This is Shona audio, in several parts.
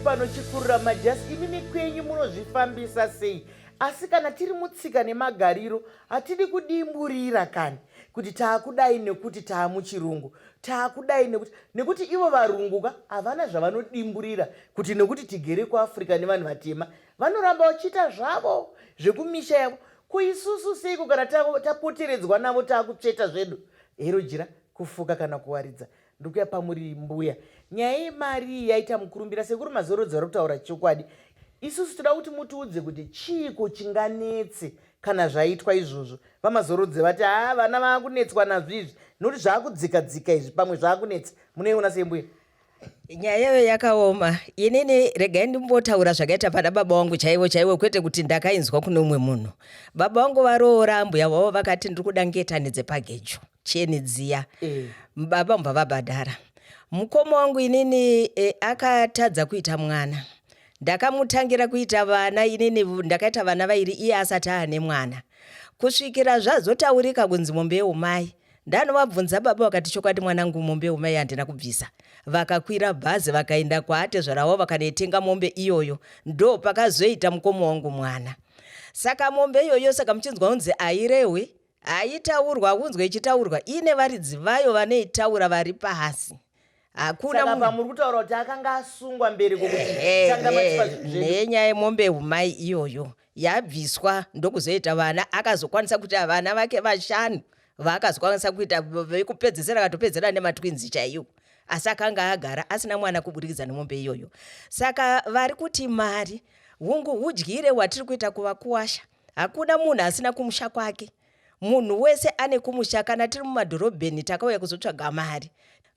panochikurura majasi imi nekwenyu munozvifambisa sei asi kana tiri mutsika nemagariro hatidi kudimburira kani kuti taakudai nekuti taamuchirungu taakudai nekuti nekuti ivo varungu ka havana zvavanodimburira kuti nekuti tigere kuafrica nevanhu vatema vanoramba vachiita zvavo zvekumisha yavo Ko isusu seiko kana tapoteredzwa navo taakutsveta zvedu hero jira kufuka kana kuwaridza ndikuya pamuri mbuya nyaya yemari iyi yaita mukurumbira sekuru mazorodzi vari kutaura chokwadi isusu toda kuti mutiudze kuti chiiko chinganetse kana zvaitwa izvozvo vamazorodze vati haa vana vaakunetswa nazvo izvi nokuti zvaakudzika dzika izvi pamwe zvaakunetsa munoiona sembuya nyaya yayo yakaoma inini regai ndimbotaura zvakaita pana baba wangu chaivo chaivo kwete kuti ndakainzwa kune umwe munhu baba wangu varoora ambuya vavo vakati ndiri kuda ngetani dzepagejo cheni dziya mm. baba mbava badhara mukoma wangu inini e, akatadza kuita mwana ndakamutangira kuita vana inini ndakaita vana vairi iye asati aane mwana kusvikira zvazotaurika kunzi mombe yeumai ndanovabvunza baba vakati chokwadi mwanangu mombe yomai handina kubvisa vakakwira bhazi vakaenda kwaatezvara wavo vakanoitenga mombe iyoyo ndo pakazoita mukoma wangu mwana saka mombe iyoyo saka muchinzwa unzi airehwe haitaurwa unzwe ichitaurwa ine varidzi vayo vanoitaura vari pasi hakuna saka pamuri kutaura kuti akanga asungwa mberi kwenyaya yemombe humai iyoyo yabviswa ndokuzoita vana akazokwanisa kuti vana vake vashanu vaakazokwanisa kuita vekupedzesera akatopedzera nematwinzi chaiwo asi akanga agara asina mwana kuburikidza nemombe iyoyo saka vari kuti mari hungu udyire hwatiri kuita kuvakuwasha hakuna munhu asina kumusha kwake Munhu wese ane kumusha kana tiri mumadhorobheni takauya kuzotsvaga mari.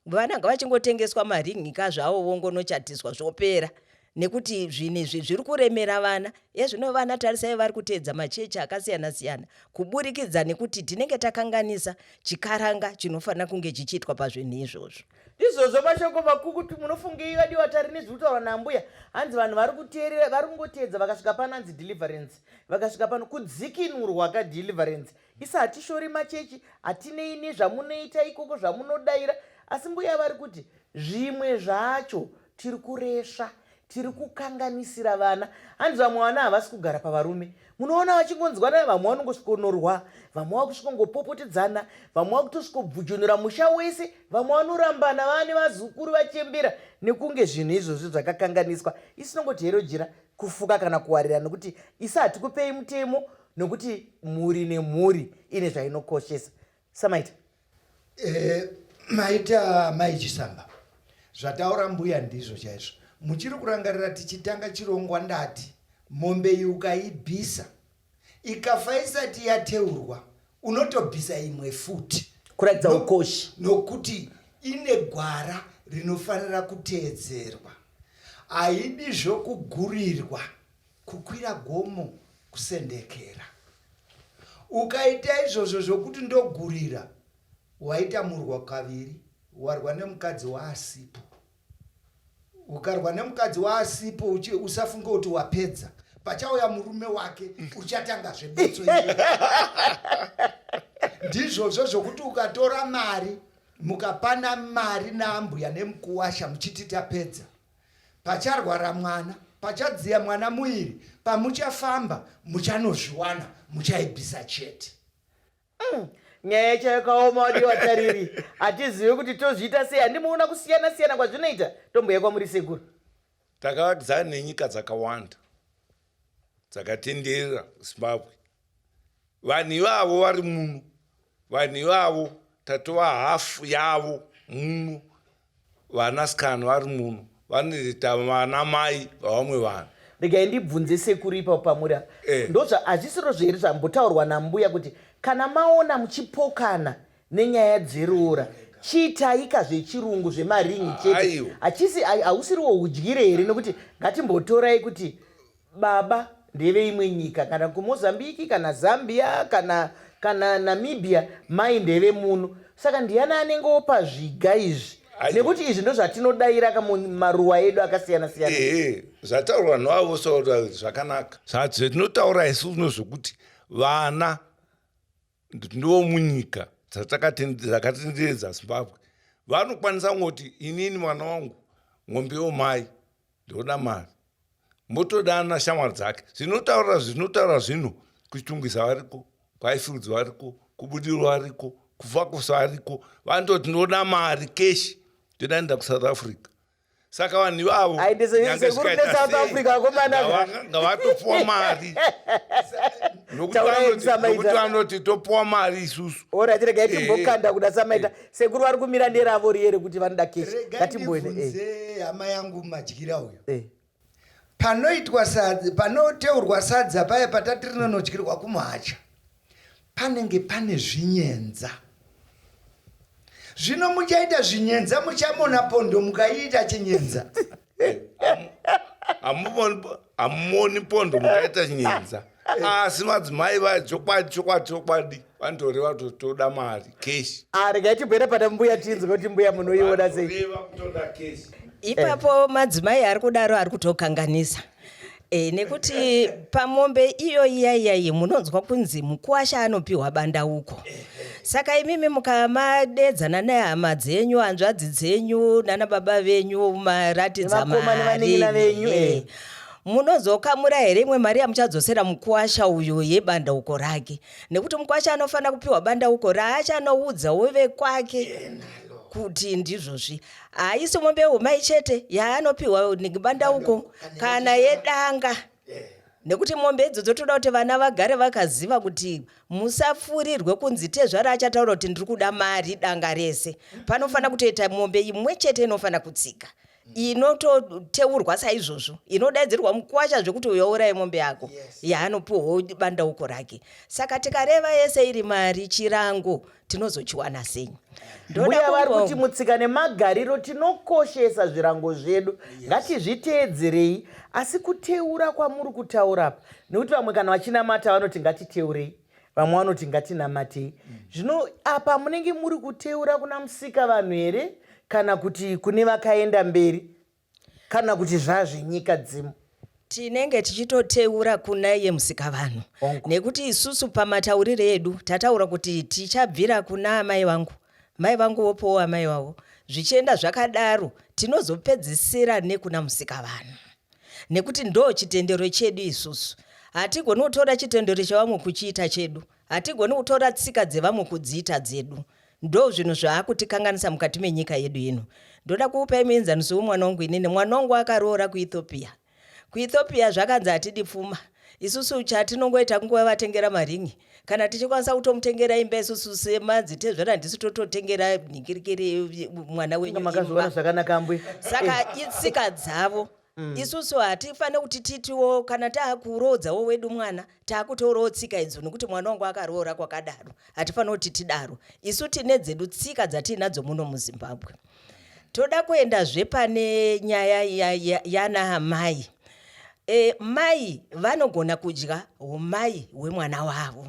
Vana ngavachingotengeswa maringi ka zvawo vongonochatiswa zvopera nekuti zvinhu izvi zviri kuremera vana ezvino vana tarisai vari kuteedza machechi akasiyana siyana kuburikidza nekuti tinenge takanganisa chikaranga chinofanira kunge chichiitwa pazvinhu izvozvo izvozvo mashoko makukutu munofungei vadiwa tari nezviri kutaurwa naambuya hanzi vanhu vari kuteerera vari kungoteedza vakasvika pano hanzi deliverance vakasvika pano kudzikinurwa ka deliverance isa hatishori machechi hatinei nezvamunoita ikoko zvamunodaira asi mbuya vari kuti zvimwe zvacho tiri kuresva tiri kukanganisira vana hanzi vamwe vana havasi kugara pavarume munoona vachingonzwa nayo vamwe vanongosvikonorwa vamwe vakusvikongopopotedzana vamwe vakutosvikobvujonora musha wese vamwe vanorambana vane vazukuru vachembera nekunge zvinhu izvozvi zvakakanganiswa isinongoti herojira kufuka kana kuwarira nokuti isu hatikupei mutemo nokuti mhuri nemhuri ine zvainokoshesa samaita eh, maita mai chisamba zvataura mbuya ndizvo chaizvo muchiri kurangarira tichitanga chirongwa ndati mombe iyi ukaibvisa ikafa isati yateurwa unotobvisa imwe futi kuratidza ukoshi nokuti ine gwara rinofanira kuteedzerwa haidi zvokugurirwa kukwira gomo kusendekera ukaita izvozvo zvokuti ndogurira waita murwa kaviri warwa nemukadzi waasipo ukarwa nemukadzi waasipo usafunge kuti wapedza pachauya murume wake uchatangazve betso ndizvozvo zvokuti ukatora mari mukapana mari naambuya nemukuwasha muchiti tapedza pacharwara mwana pachadziya mwana muiri pamuchafamba muchanozviwana muchaibvisa chete Mm, nyaya yacho yakaoma wadi watariri hatizive kuti tozviita sei handimuona kusiyana siyana kwazvinoita tombuya kwamuri sekuru takavakidzana nenyika dzakawanda dzakatenderera zimbabwe vanhu ivavo vari muno vanhu ivavo tatova hafu yavo muno Vana scan vari muno vanoita vana mai vavamwe vanhu. Regai ndibvunze sekuru ipapo pamuri apa. Eh. Ndozva hazvisiro zveri zvambotaurwa nambuya kuti kana maona muchipokana nenyaya dzeroora chiitaika zvechirungu zvemaringi chete. Aiwa. Hachisi hai- hausiriwo udyire here nekuti ngatimbotorai kuti baba ndeveimwe nyika kana kumozambiki kana zambia kana kana namibia mai ndevemuno saka ndiyani anenge opa zviga izvi nekuti izvi ndozvatinodaira kamaruwa edu akasiyana siyana ee zvataura vanhu vavo vosaura zvakanaka zvatinotaura isu uno zvokuti vana ndiwo munyika dzakatenderedza zimbabwe vanokwanisa kungoti inini mwana wangu ngombe yomai ndoda mari motodana shamwari dzake zvinotaura zvinotaura zvino kuchitungwiza variko kwaifirudzi variko kubudiro variko kufa kusa variko vanototi ndoda mari keshi ndoda nda kusouth africa saka vanhu ivavo ngavatopwa mari nokuti vanoti topwa mari isusu orati regai eh. timbokanda kuda samaita eh. sekuru vari kumira nderavo riye rekuti vanoda keshi ngatimbone eh. hama yangu madyira uyo Panoitwa sadza, panoteurwa sadza paya patati rinonodyirwa kumuhacha, panenge pane zvinyenza. Zvino muchaita zvinyenza, muchamona pondo mukaiita chinyenza. Hey, amuvoni pondo mukaita nyenza asi ah, madzimai vaya chokwadi chokwadi chokwadi vanotoreva kuti toda mari keshi ah, regai tibwere pana mbuya tinzwe kuti mbuya munoiona sei ipapo madzimai ari kudaro ari kutokanganisa E, nekuti pamombe iyo iya iyayi munonzwa kunzi mukuwasha anopiwa bandauko saka imimi mukamadedzana nehama dzenyu hanzvadzi dzenyu nana baba venyu maratidza mari eh. munozokamura here imwe mari yamuchadzosera mukwasha uyo yebandauko rake nekuti mukwasha anofanira kupiwa bandauko raacha anoudza wove kwake kuti ndizvozvi haisi mombe yehumai chete yaanopiwa nebandauko kana yedanga nekuti mombe idzo dzotoda kuti vana vagare vakaziva kuti musafurirwe kunzi tezvara achataura kuti ndiri kuda mari danga rese panofanira kutoita mombe imwe chete inofanira kutsika mm. inototeurwa saizvozvo inodaidzirwa mukwasha zvekuti uyourai mombe yako yaanopiwawo bandauko rake saka tikareva yese iri mari chirango tinozochiwana sei ndoda vari kuti mutsika nemagariro tinokoshesa zvirango zvedu ngatizviteedzerei asi kuteura kwamuri kutaura apa nekuti vamwe kana vachinamata vanoti ngatiteurei vamwe vanoti ngatinamatei zvino apa munenge muri kuteura kuna musika vanhu here kana kuti kune vakaenda mberi kana kuti zvazvenyika dzimu tinenge tichitoteura kuna iye musika vanhu nekuti isusu pamataurire edu tataura kuti tichabvira kuna amai vangu mai vangu vopowo amai vavo zvichienda zvakadaro tinozopedzisira nekuna musika vanhu nekuti ndo chitendero chedu isusu hatigoni kutora chitendero chevamwe kuchiita chedu hatigoni kutora tsika dzevamwe kudziita dzedu ndo zvinhu zvaakutikanganisa mukati menyika yedu ino ndoda kuupai muenzaniso wemwana wangu inini mwana wangu akaroora kuethiopia kuethiopia zvakanzi hatidi pfuma isusu chatinongoita kungovatengera maringi kana tichikwanisa kutomutengera imba isusu semadzitezvara ndisu tototengera nhingirikiri mwana wenyu makazviona zvakanaka mbwe saka eh. itsika dzavo Mm. isusu hatifanire kuti titiwo kana taakuroodzawo wedu mwana taakutoorawo tsika idzo nokuti mwana wangu akaroora kwakadaro hatifanire kuti tidaro isu tine dzedu tsika dzatiinadzo muno muzimbabwe toda kuenda zvepane nyaya yana ya, ya mai e, mai vanogona kudya umai hwemwana wavo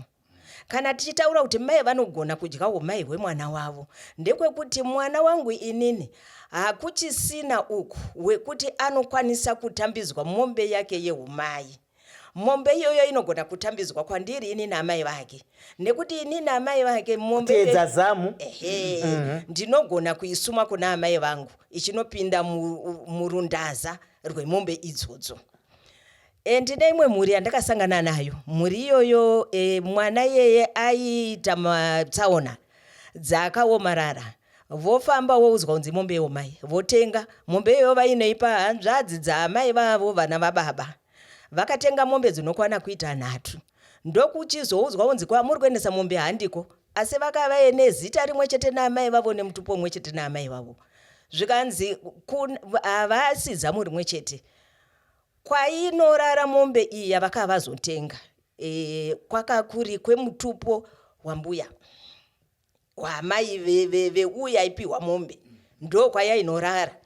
kana tichitaura kuti mai vanogona kudya umai hwemwana wavo ndekwekuti mwana wangu inini hakuchisina uku wekuti anokwanisa kutambidzwa mombe yake yeumai mombe iyoyo inogona kutambidzwa kwandiri inini amai vake nekuti inini amai vake mombeedza zamu ehe mm -hmm. ndinogona kuisuma kuna amai vangu ichinopinda murundaza rwemombe idzodzo e, ndine imwe mhuri yandakasangana nayo mhuri iyoyo e, mwana iyeye aiita matsaona dzaakaomarara Vofamba woudzwa kunzi mombe yeumai votenga mombe iyoyo vainoipa hanzvadzi dzaamai vavo vana vababa vakatenga mombe dzinokwana kuita nhatu ndokuchizoudzwa kunzi kwamuri kuendesa mombe handiko asi vakavaye nezita rimwe chete naamai vavo nemutupo umwe chete naamai vavo zvikanzi havasi zamu rimwe chete kwainorara mombe iyi yavakavazotenga e, kwakakuri kwemutupo wambuya kwamai veuyo aipiwa mombe ndo kwayainorara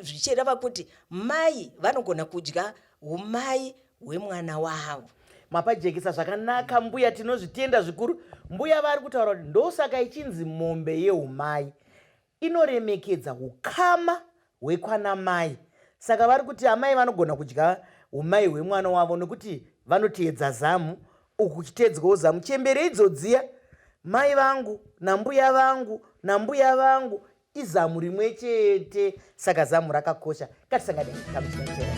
zvichireva kuti mai vanogona kudya umai hwemwana wavo mapajekesa zvakanaka mbuya tinozvitenda zvikuru mbuya vari kutaura kuti ndosaka ichinzi mombe yeumai inoremekedza ukama hwekwana mai saka vari kuti amai vanogona kudya umai hwemwana wavo nokuti vanoteedza zamu uku kuchiteedzwawo zamu chembere idzodziya mai vangu nambuya vangu nambuya vangu izamu rimwe chete saka zamu rakakosha ngatisanganei kamuchinateera